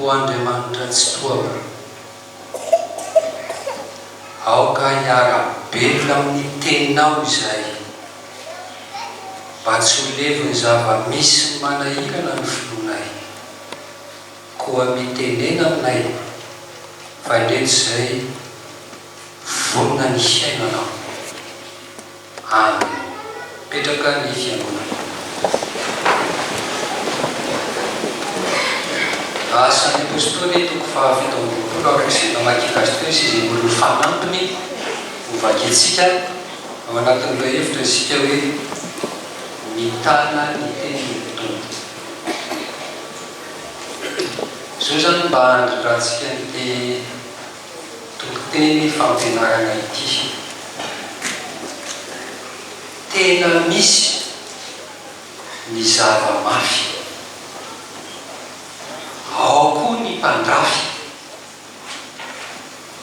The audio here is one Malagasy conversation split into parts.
O Andriamanitra Tsitohako, aoka hiara-belona amin'ny Teninao izahay, mba tsy ho levon'ny zava-misy ny manahirana ny finoanay. Koa mitenena aminay fa indreto izay vonona ny hiaina Anao. Amen petraka ny fiangonana. Asan'ny Apostoly toko faha fito amby roapolo ary roa sy namaky gasy teo sy izay olon'ny fanampiny ho vakintsika ao anatin'ireo hevitra isika hoe mitana ny tenin'ny Tompo. Izao izany mba handrindrantsika ny te. Toriteny fampianarana ity. Tena misy ny zava mafy. Ao koa ny mpandrafy.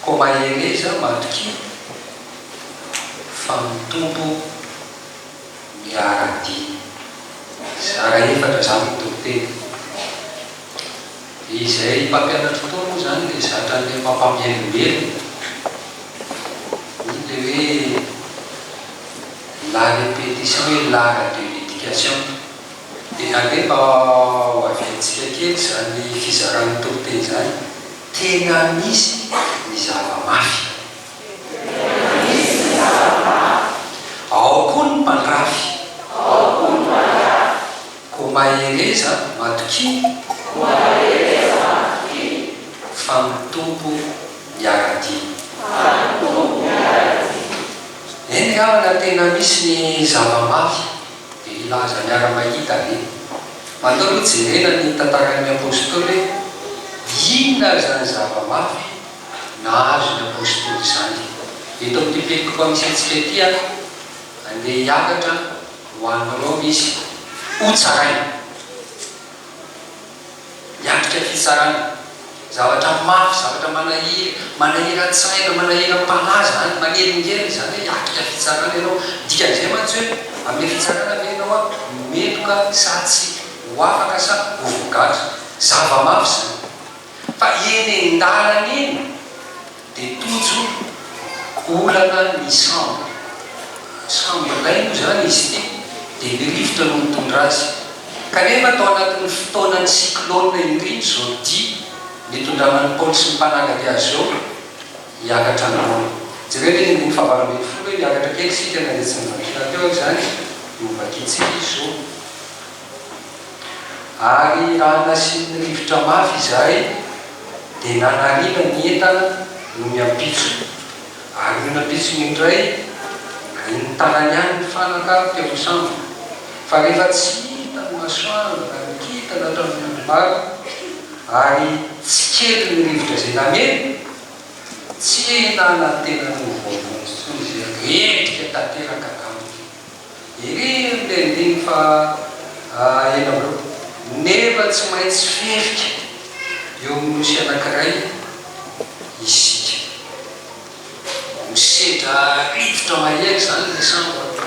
Koa mahereza matokia fa mitombo ny aradia. Zara efatra zany ny toriteny. Izay mpampianatro koa moa izany dia zatra an'ilay mpampamelombelona, iny ilay hoe la répétition est l'art de l'éducation. Dia ange mba hoaviantsika kely izany fizaran'ny toriteny izany, tena misy ny zava-mafy. Ao koa ny mpandrafy. Koa mahereza matokia. Koa mahereza matokia. Fa ny Tompo miara-dia. Fa ny Tompo miara-dia. Eny havana tena misy ny zava-mafy dia hilaza miara-mahita ve? Mandao aloha jerena ny tantaran'ny Apostoly hoe inona izany zava-mafy nahazo ny Apostoly izany. Eto amin'ity pelik'Ohamisy antsika ity aho handeha hiakatra Ho an'i Roma izy hotsaraina. Miatrika fitsarana. Zavatra mafy, zavatra manahira, manahiran-tsaina, manahiram-panahy izany, manelingelina izany hoe hiatrika fitsarana ianao. Ny dikan'izay mantsy hoe amin'ilay fitsarana ve ianao no meloka sa tsia, ho afaka sa ho voagadra. Zava-mafy izany. Fa eny an-dalana eny. Dia tojo olana ny sambo. Sambo iray moa izany izy ity dia ny rivotra no mitondra azy. Kanefa tao anatin'ny fotoanan'ny cyclone indrindra izao dia nitondrana ny Paoly sy ny mpanaradia azy izao hiakatra ny Roma. Jereo ny andininy fahavalo ambin'ny folo hoe, Miakatra kely isika na dia tsy nivakiana teo aza izany, novakiantsika izy izao. Ary raha nasiany rivotra mafy izahay, dia nanariana ny entana no ny ampitso. Ary io nampitsony io indray, dia nitanany any ny fanaka teo amin'ny sambo. Fa rehefa tsy hita ny masoandro na ny kintana ato amin'ny androm-bava, ary tsy kely ny rivotra izay namely, tsy nanantena ny ho voavonjy intsony izay repoka tanteraka taminy. Irery le andininy faha enina amby roapolo nefa tsy maintsy fihevika eo amin'ny nosy anankiray isika. Misedra rivotra mahery zany le sambo a!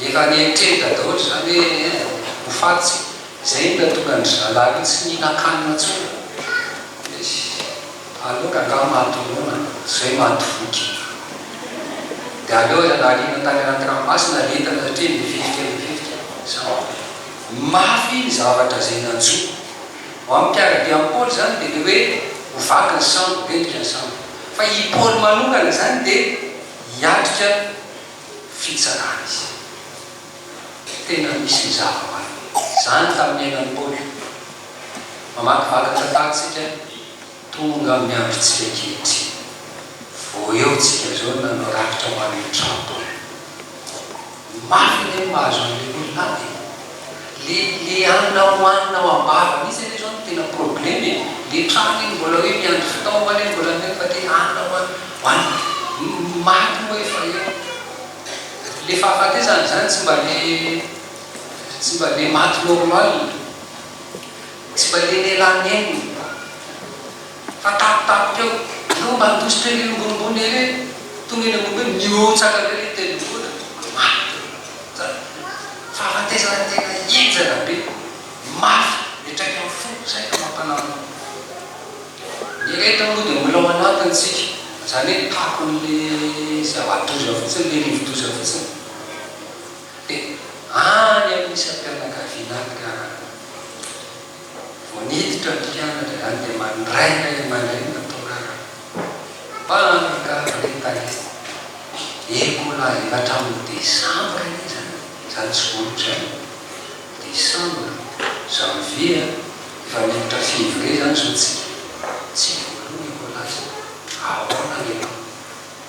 Efa nieritreritra daholo zany hoe ein ho faty tsika. Zay no nahatonga an-dry zalahy io tsy nihinakanina tsony. Aleo rangaha maty noana zay maty voky. Dia aleo aza nariana tany anaty ranomasina ny entana satria mivivika mivivika zany. Mafy ny zavatra zay nanjo. Ho an'i Pierre dia an'i Paoly zany dia le hoe ho vaky ny sambo, ho mendrika ny sambo. Fa i Paoly manokana zany dia hiatrika fitsarana izy. Tena misy ny zava-manome. Zany tamin'ny iainan'i Paoly. Mamakivaky ny tantara tsika. Tonga amin'ny androntsika ankehitriny. Vao eo tsika izao nanao rakitra ho an'ny Trump hoe, Mafy anie ny mahazo an'ilay olona any e! Le le anona hohanina ao am-bava mihitsy anie izao no tena probleme e! Le Trump iny mbola hoe miandry fitaovana anie mbola mino fa te hanina hohanina. Ny maty moa efa eo. Le fahafatesana izany tsy mba le tsy mba le maty normal. Tsy valian'ialahy ny ainy ny vato. Fa tampotampoka eo, ianao mba handositra ery ambonimbony ery e! Tonga eny ambony hoe mihotsaka be ilay tendrombohitra, mafy be izany. Fahafatesana tena henjana be, mafy, miantraikan'ny fo, izay ka mampanahoana. Ny rehetra moa dia mbola ao anatiny isika, izany hoe takon'ilay zava-doza fotsiny, ilay rivo-doza fotsiny. Dia any amin'ny isam-pianakaviana any ka vao niditra ny mpianatra izany dia mandray ilay ray aman-dreny natao raraka. Mpandry garde état izy. Ecola efa hatramin'ny desambra izy izany, izany tsy vao otrany. Desambra, janvier, efa miditra février izany izao tsika. Tsy voaloha ny Ecola izao. Ahoana ry ianao?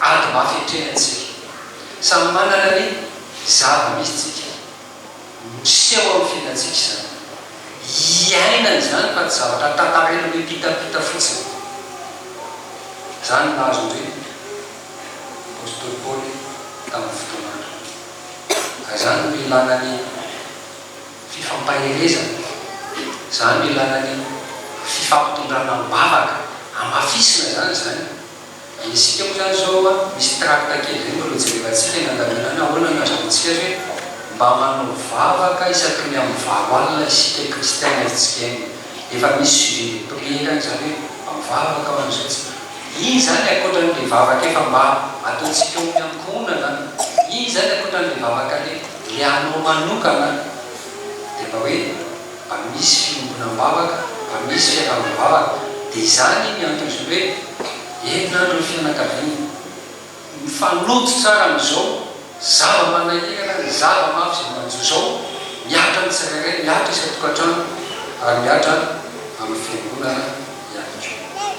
Ady mafy hatreny antsika. Samy manana ny zava-misy tsika. Miseho amin'ny fiainantsika izany. Iainana izany fa tsy zavatra tantaraina mipitapita fotsiny. Izany no nahazo ny apostoly Paoly tamin'ny fotoana androny. Ka izany no ilana ny fifampaherezana. Izany no ilana ny fifampitondrana am-bavaka. Hamafisina izany izany. Ny isika moa zany zao a, misy tracte kely zay mbola hojerevantsika ny andaminana ahoana ny ahazoantsika zay mba manao vavaka isaky ny amin'ny valo alina isika kristiana hetsika eny efa misy sujet de prière any zany hoe mba mivavaka aho andro zay iny zany ankoatran'le vavaka efa mba ataontsika eo amin'ny ankohonana iny zany ankoatran'le vavaka le le anao manokana de mba hoe mba misy fiombonam-bavaka, mba misy fiarahabam-bavaka. Dia izany ny antony hoe herinandron'ny fianakaviana. Mifanojo tsara amin'izao zava-manahirana, ny zava-mafy izay manjo izao, mihatra ny tsirairay, mihatra isan-tokantrano ary mihatra amin'ny fiangonana ihany koa.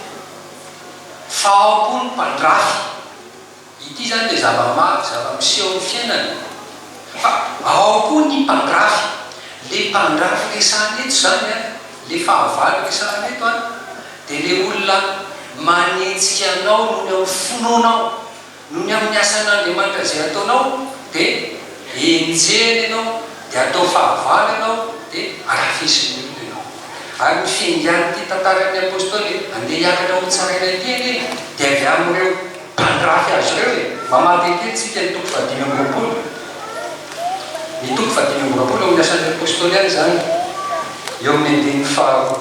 Fahapo ny mpandrafy. Ity izany dia zava-mafy, zava-miseho amin'ny fiainana. Fa ao koa ny mpandrafy. Ilay mpandrafy resahana eto izany, ilay fahavalo resahana eto, dia ilay olona manenjika anao noho ny amin'ny finoanao, noho ny amin'ny asan'Andriamanitra izay ataonao, dia enjehiny ianao, dia atao fahavalo ianao, dia arafisin'ny olona ianao. Ary ny fiangan'ity tantaran'ny Apôstôly handeha hiakatra hotsaraina ity anie dia avy amin'ireo. Mpandrafy azy ireo e! Mamaly dite tsika ny toko fahadimy amby roapolo, ny toko fahadimy amby roapolo eo amin'ny asan'ny Apostoly ihany izany, eo amin'ny andininy faharoa.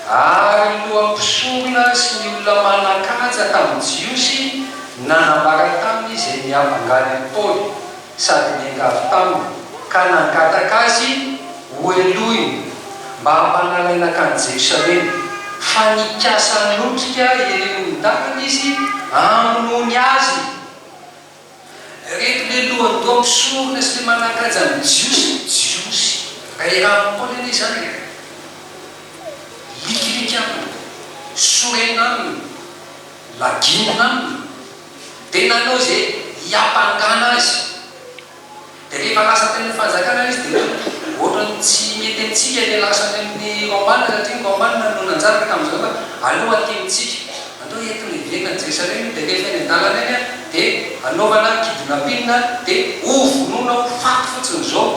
Ary ny lohampisonga sy ny olona manan-kaja tamin'ny Jiosy nanambara taminy izay niavangan'i Paoly. sady niainga avy taminy, ka nangataka azy hohelohina mba hampanalaina hankany Jerosalema, fa nikasa hanotrika ireo olon-dalana izy hamonoany azy. Ireto le lohandoha mpisorona sy le manan-kaja amin'ny Jiosy, Jiosy iray rano Paoly anie izany e! Likiliky aminy, sorena aminy, laginina aminy, Dia nanao izay hiampangana azy. Dia rehefa lasa teny amin'ny fanjakana izy dia ohatran'ny tsy mety amintsika ilay lasa any amin'ny Romana satria ny Romana no nanjaka tamin'izany fa aleo aty amintsika. Andao entina hiverina any Jerosalema iny dia rehefa eny an-dalana eny dia anaovana kidnapping dia hovonoina ho faty fotsiny izao.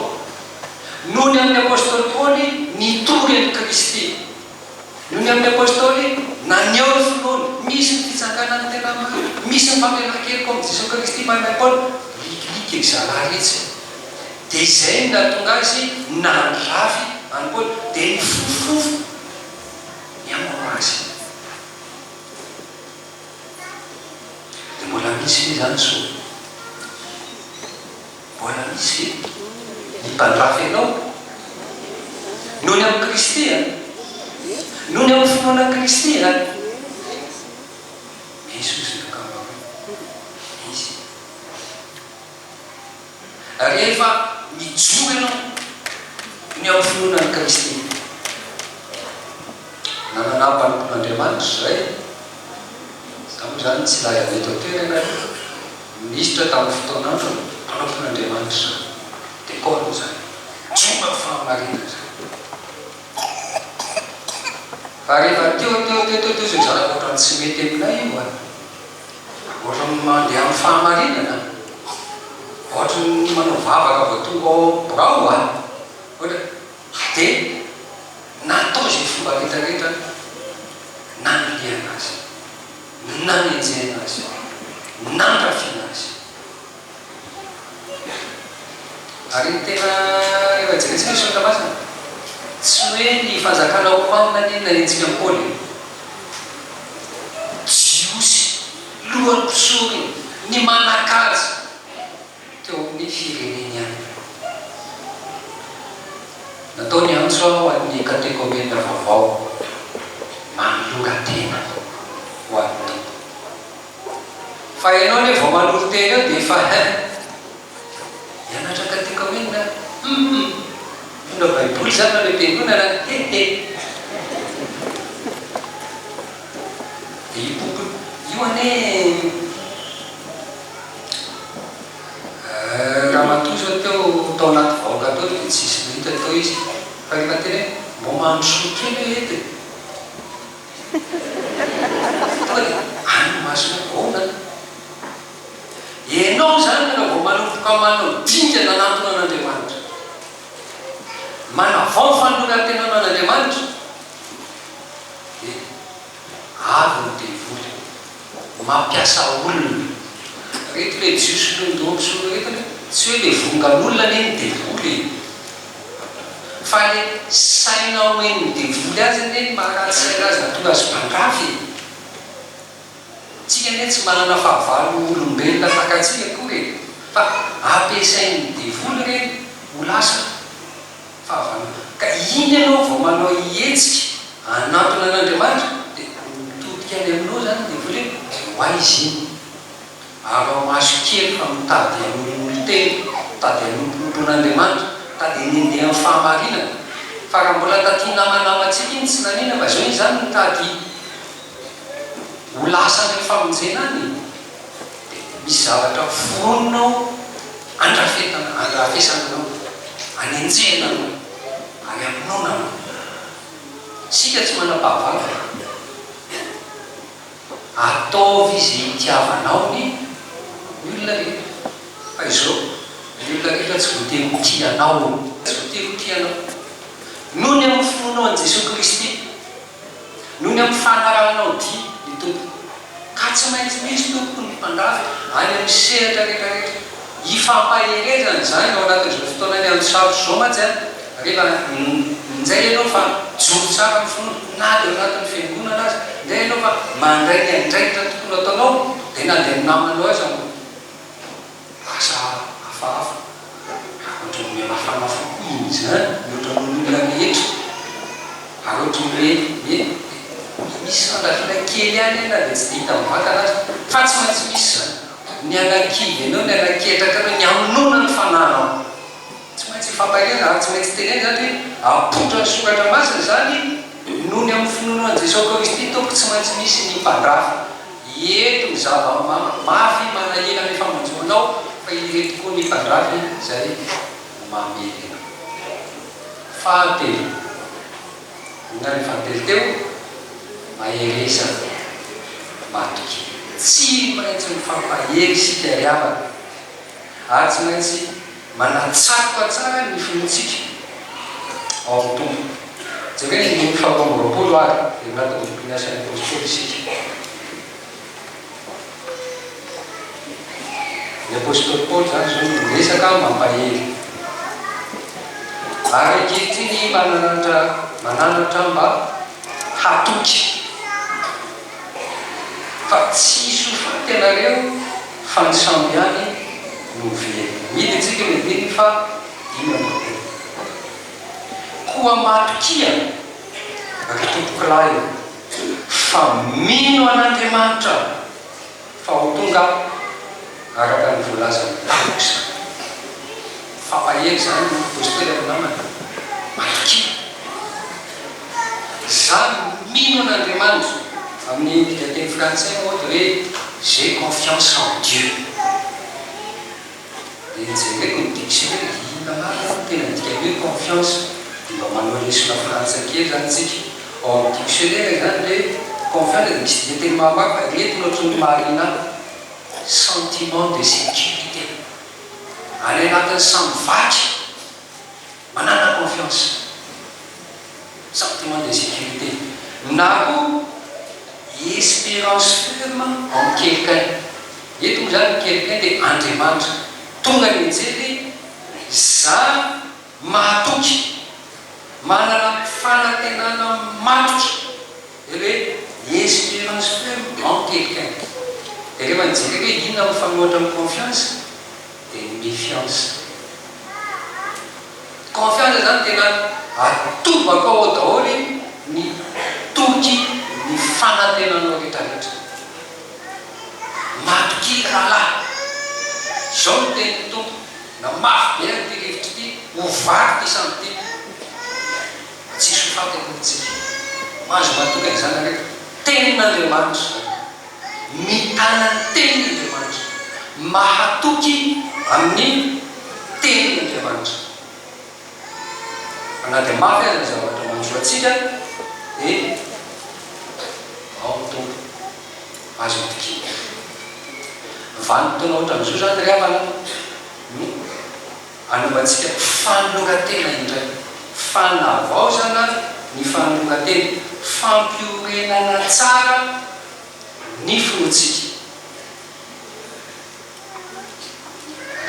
Noho ny amin'ny apostoly Paoly nitory an'i Kristy. Noho ny amin'ny Apôstôly, naneho ny finoany, misy ny fitsakana ny tena marina, misy ny famelakeloka ao amin'i Jesoa Kristy mahay mahay Paoly, Rikilikiko ry zalahy retsy e! Dia izay no nahatonga azy nandrafy an'i Paoly, dia nifofofofo ny hamono azy. Dia mbola misy ve izany zo? Mbola misy ve ny mpandrafy anao? Noho ny amin'i Kristy a! Noho ny amin'ny finoana an'i Kristy a! Misy hoy izay ankamaroany. Misy e! Rehefa mijoro ianao ny amin'ny finoana an'i Kristy, Nanana mpanompon'Andriamanitra izay. Izaho moa izany tsy laza ny eto an-toerana e! Minisitra tamin'ny fotoana androny, mpanompon'Andriamanitra izany. Dia Paul izany. Jomba fahamarinana izany. Fa rehefa teo teo teo teo teo izay zanaka ohatran'ny tsy mety aminay io an! Ohatran'ny mandeha amin'ny fahamarinana an! Ohatran'ny manao vavaka vao tonga ao birao an! Ohatra. dia natao izay fomba rehetrarehetra nanilihana azy, nanenjehina azy, nandrafina azy. Ary ny tena rehefa jerentsika ny Soratra Masina, tsy hoe ny fanjakana romanina anie nanenjika an'i Paoly e! Jiosy, lohan'ny mpisorona, ny manan-kaja, teo amin'ny fireneny any. Natao ny antso ho an'ny katekomena vaovao manoloran-tena ho an'ny Tompo. Fa ianao anie vao manolon-tena eo dia efa hein! Hianatra katekomena? Hum hum! Mitondra baiboly izany mandeha am-piangonana? He he! Dia io boky io anie! Ramatoa izao teo tao anaty vahoaka tao dia tsisy nahita tao izy fa rehefa tena hoe mba mandrosoa kely hoe eto e! Tonga dia any ny masony hoe ahoana an? Ianao izany raha vao manomboka manao dingana hanatona an'Andriamanitra, manavao fanoloran-tenanao an'Andriamanitra dia. avy ny devoly mampiasa olona. Reto le jiosy mpihaino daholo soloy reto anie, tsy hoe le vongan'olona anie ny devoly e! fa le saina omen'ny devoly azy anie ny maha ratsy saina azy mahatonga azy mpandrafy e! Tsika anie tsy manana fahavalo ho olombelona tahaka antsika akory e! fa ampiasain'ny devoly ireny ho lasa. Fahavalo, Ka iny ianao vao manao hetsika hanantona an'Andriamanitra dia mitodika any aminao izany ny devoly hoe, ho aiza iny? Ary ao maso kely fa mitady hamonomono tena, mitady hanomponompon'Andriamanitra, mitady hanendeha amin'ny fahamarinana. Fa raha mbola taty namanamantsika iny tsy nanina fa izao iny izany mitady ho lasa any amin'ny famonjena any e! Misy zavatra foronina ao, andrafetana, andrafesana anao, anenjehina anao, ary hamonoana anao. Isika tsy manam-pahavalona. Ataovy izay hitiavanao ny olona rehetra. Fa izao, ny olona rehetra tsy voatery ho tia anao. Tsy voatery ho tia anao. Noho ny amin'ny finoanao an'i Jesoa Kristy. Noho ny ampifanarahanao dia ny tompoko, ka tsy maintsy misy tompoko ny mpandafy any amin'ny sehatra rehetra rehetra. Hifampahereza ny zany ao anatin'izao fotoana niandry sarotra izao mantsy an! rehefa injay ianao fa mijoro tsara amin'ny finoana na dia ao anatin'ny fiangonana aza, injay ianao fa mandray ny andraikitra tokony hataonao dia na dia ny namanao aza no. Asa hafahafa. Ohatran'ny mihamafana fo koa iny izany mihoatra noho ny olona rehetra. Ary ohatry ny hoe hoe hoe misy fandrafiana kely ihany anie na dia tsy dia hita mivantana aza. Fa tsy maintsy misy izany. Ny anakivy anao, ny anaketraka anao, ny hamonoana ny fananao. Tsy maintsy hifampaheriana ary tsy maintsy tenenina izany hoe apoitra ny soratra masina izany noho ny amin'ny finoanao an'i Jesoa Kaoristy Tompo, tsy maintsy misy ny mpandrafy. Ireto ny zava-mafy manahirana ny famonjenao fa ireto koa ny mpandrafy izay mamelona. Fahatelo, hoy ihany ny fahatelo teo, maherezana matoky. Tsy maintsy mifampahery isika ry havana ary tsy maintsy. Manatsatoka tsara ny finoantsika ao amin'ny Tompo. Jereo ny andininy faharoa amby roapolo ary heverina tao amin'ny bokin'ny Asan'ny Apostoly isika. Ny Apostoly Paoly izany izao no miresaka mampahery. Ary ankehitriny mananatra mananatra mba hatoky. Fa tsy hisy ho faty ianareo fa ny sambo ihany no ho velona. Mihidy antsika ny andininy faha dimy amby roapolo. Koa matokia, ry tompokolahy ô, fa mino an'Andriamanitra. Fa ho tonga araka ny voalazan'i Davy izany. Fampahery izany ny Apostoly amin'ny namany Malakia. Izaho mino an'Andriamanitra. Amin'ny dikan-teny frantsay moa dia hoe, J'ai confiance en Dieu. dia jereko ny dictionnaire dia hita marina fa ny tena dikany hoe confiance dia mba manao lesona frantsay kely zany tsika ao amin'ny dictionnaire izany hoe confiance dia misy dikan-teny mahamafy ireto no ohatran'ny mahaliana ahy sentiment de sécurité any anatin'ny samy vaky Manana confiance, sentiment de sécurité, na koa espérance ferme en quelqu'un, eto moa izany ny quelqu'un dia Andriamanitra, tonga ny anjely, za mahatoky, manana fanantenana matotra, izay hoe espérance ferme en quelqu'un, dia rehefa nijerena hoe inona mifanohitra amin'ny confiance, dia ny fiansa. Confiance izany tena atovako ao daholo ny toky ny fanantenanao rehetra rehetra. Matokia rahalahy, izao no tenin'ny Tompo, na mafy be ary ity rivotra ity, ho vaky ity sambo ity, fa tsy hisy ho faty akory isika. Mahazo matoky an'izany nareo. Tenin'Andriamanitra izany. mitana ny Tenin'Andriamanitra, mahatoky amin'ny Tenin'Andriamanitra. Fa na dia mafy aza ny zavatra manjo antsika, dia ao ny Tompo, azo itokiana. Vanim-potoana ohatran'izao izany ry havana no. Anaovantsika fanoloran-tena indray, fanavaozana ny fanoloran-tena, fampihorenana tsara ny finoantsika.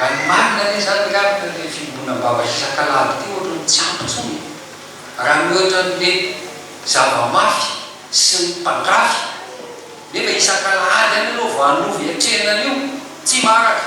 Raha ny marina anie izany angamba ilay fibodoana am-bava isak'alahady ity ohatran'ny tsy ampy intsony e! Raha mihoatra an'ilay zava-mafy sy ny mpandrafy nefa isak'alahady ihany aloha vao hanova hiatrehina an'io, tsy maharaka.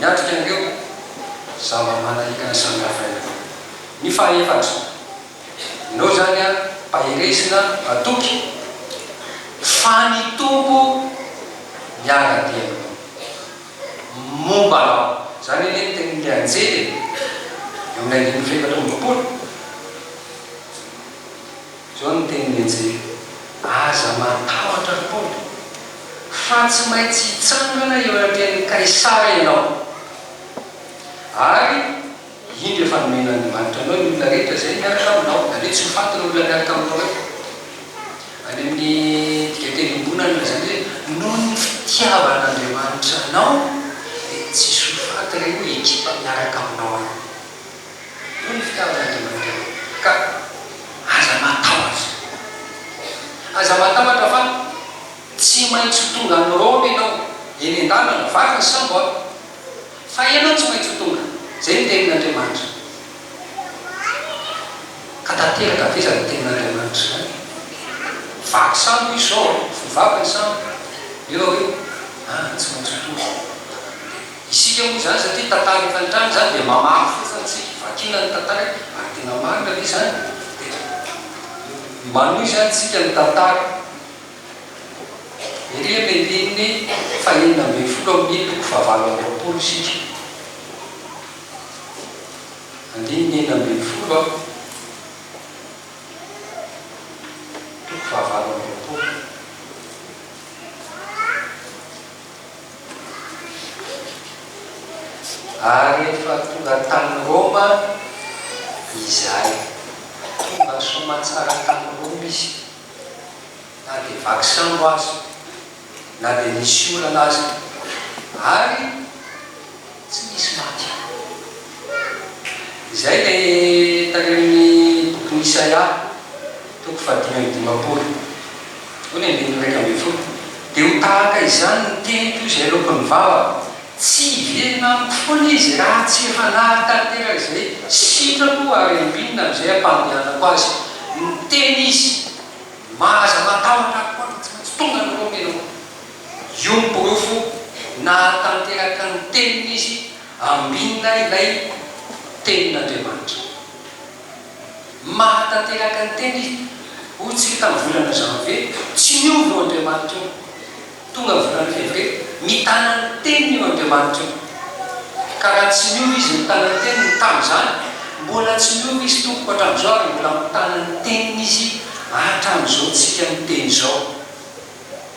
Miatrika an'ireo zava-manahika ny sandrafraina ny fahefatra. Inao izany an, Mpaherezina hatoky fa ny Tompo miara-dia momba anao. Izany anie ny tenin'ilay anjely e, eo amin'ny andininy fahefatra amby roapolo. Izao no tenin'i Ejeka, Aza matahotra akory, fa tsy maintsy hitsangana eo anatrehan'i Kaisara ianao, ary indro efa nomen'Andriamanitra anao ny olona rehetra izay miaraka aminao. Aleo tsy ho faty ireo olona miaraka aminao eto. Any amin'ny dikateny iombonana no lazain'izy hoe, Noho ny fitiavan'Andriamanitra anao, dia tsy hisy ho faty ireo ekipa miaraka aminao ireo. hoy ny fitiavan'Andriamanitra anao, ka aza matahotra. Aza matahotra fa tsy maintsy ho tonga any Roma ianao, eny an-dalana, vaky ny sambo aho, fa ianao tsy maintsy ho tonga any. Izay ny tenin'Andriamanitra. Ka tanteraka ve izany tenin'Andriamanitra izany? Vaky sambo izy izao, vao vaky ny sambo, eo hoe, ah, tsy maintsy ho tonga. Isika moa izany satria tantara efa nitranga izany dia mamaly fotsiny isika, vakiana ny tantara ary tena marina ve izany? dia manohy izany isika ny tantara ery amin'ny andininy fahenina ambin'ny folo amin'ny toko fahavalo amby roapolo isika, andininy enina ambin'ny folo an! toko fahavalo amby roapolo. Ary efa tonga tany Roma izahay. Tonga soamatsara tany Roma izy, na dia vaky sambo aza, na dia nisy orana aza. Ary. Tsy misy maty any. Izay ilay tarehin'ny bokin'i Isaia, toko fahadimy amby dimampolo, hoy ny andininy iraika ambin'ny folo, Dia ho tahaka izany ny teniko izay aloaky ny vavako, tsy hiverina amiko foana izy raha tsy hanary tanteraka izay sitrako ary hambinina amin'izay hampandehanako azy. Niteny izy, Mahaza matahotra aho koa aho, tsy maintsy tonga ny Romanina ao. Io no porofo nahatanteraka ny teniny izy ambinina ilay tenin'Andriamanitra. Mahatanteraka ny teniny izy. Hoy isika tamin'ny volana janvier, tsy miova io Andriamanitra io. Tonga volana fevrier, mitana ny teniny io Andriamanitra io. Ka raha tsy miova izy mitana ny teniny tamin'izany, mbola tsy miova izy tompoko hatramin'izao ary mbola mitana ny teniny izy hatramin'izao tsika miteny izao.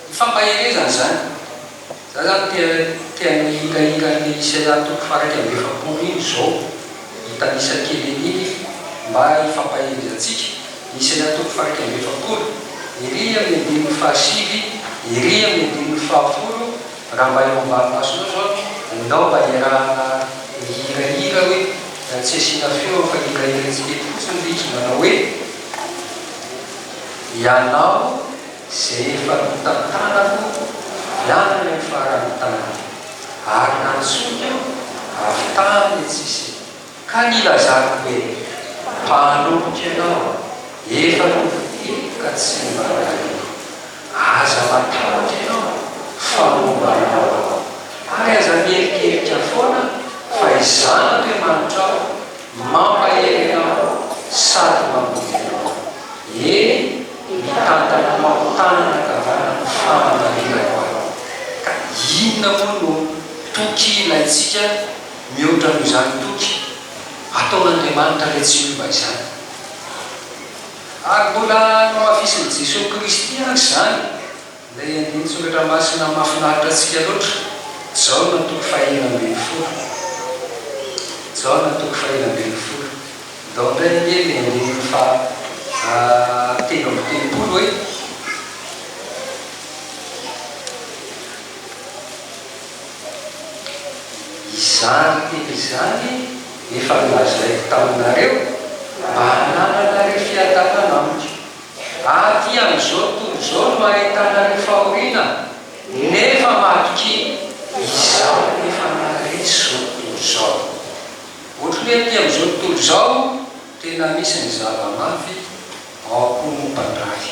Ny fampaherezana izany. Za zany te te mihikahika anle sela toko faha iraika amby efapolo iny zo hitanisa kely an'iny mba hifampaherezatsika ny sela toko faha iraika amby efapolo ery amin'ny andininy faha sivy ery amin'ny andininy faha folo raha mba eo ambanimasonao zao nao mba iarahana mihirahira hoe tsy asiana feo fa hirahirantsika eto fotsiny le izy manao hoe ianao izay efa notantanako niala ny faran'ny tany, ary nantsoiny aho avy tany an-tsisiny, ka nilazako hoe, Mpanompo ianao, efa novidiko ka tsy mba rareko. Aza matahotra ianao, fa momba anao aho, ary aza mierikerika foana fa i Zanak'Amanitra aho, Mampahery anao sady mamotika anao. Eny, mitantana anao tanana ankavanana ny famantarena ho anao. Ka inona moa no toky ilaintsika mihoatra noho izany toky ataon'Andriamanitra Ilay Tsy Miova izany? Ary mbola nohafizin'i Jesoa Kristy àry izany. Ilay andinin-tsoratra masina mahafinaritra antsika loatra, Jaona toko fahefatra ambin'ny folo. Jaona toko fahefatra ambin'ny folo. Ndao indray anie ilay andininy faha telo amby telopolo e. Izany teny izany efa nolazaiko taminareo, mba hanalanareo fiadanana amiko. Aty amin'izao tontolo izao no ahitana an'io fahoriana nefa matokia izao efa maharitsy izao tontolo izao. Ohatry ny hoe aty amin'izao tontolo izao tena misy ny zava-mafy ao am-pon'ny mpandrafy.